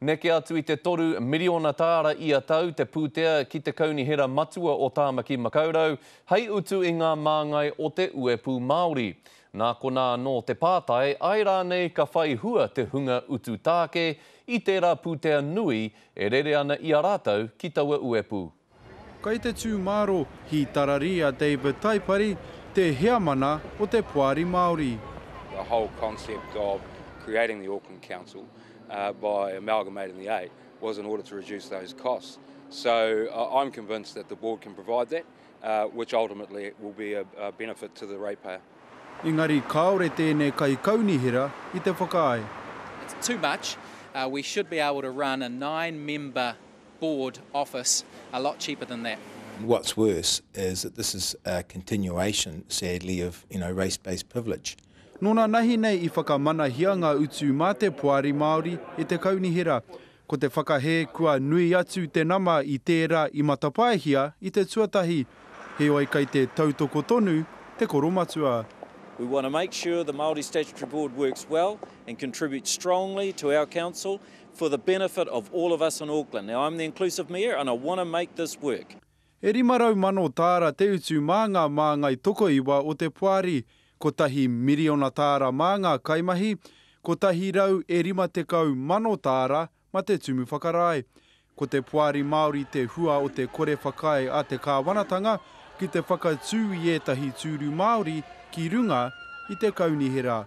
Neke atu i te toru miriona tāra ia tau te pūtea ki te Kaunihera Matua o Tāmaki Makaurau hei utu i ngā māngai o te uepū Māori. Nā konā anō te pātai, āe rānei ka whai hua te hunga utu tāke i tērā pūtea nui e rere ana i a rātou ki taua uepū? Kai te tū māro hītarari a David Taipari te heamana o te Poari Māori. The whole concept of creating the Auckland Council by amalgamating the eight was in order to reduce those costs. So I'm convinced that the board can provide that, which ultimately will be a benefit to the ratepayer. Engari kāore tēnei kaikaunihera i te whakaae. It's too much. We should be able to run a nine member board office a lot cheaper than that. And what's worse is that this is a continuation, sadly, of you know race-based privilege. Nō nā nahi nei i whakamanahia ngā utu mā te Poari Māori e te Kaunihera. Ko te whakahē kua nui atu te nama i tērā i matapaehia i te tuatahi. Heoi kei te tautoko tonu te koromatua. We want to make sure the Māori Statutory Board works well and contributes strongly to our Council for the benefit of all of us in Auckland. Now, I'm the inclusive mayor and I want to make this work. E 500,000 tāra te utu mā ngā māngai tokoiwa o te poari, kotahi miriona tāra mā ngā kaimahi, 150,000 tāra ma te tumu whakarae. Ko te poari Māori te hua o te kore whakaae a te kāwanatanga ki te whakatū i ētahi tūru Māori ki runga i te kaunihera.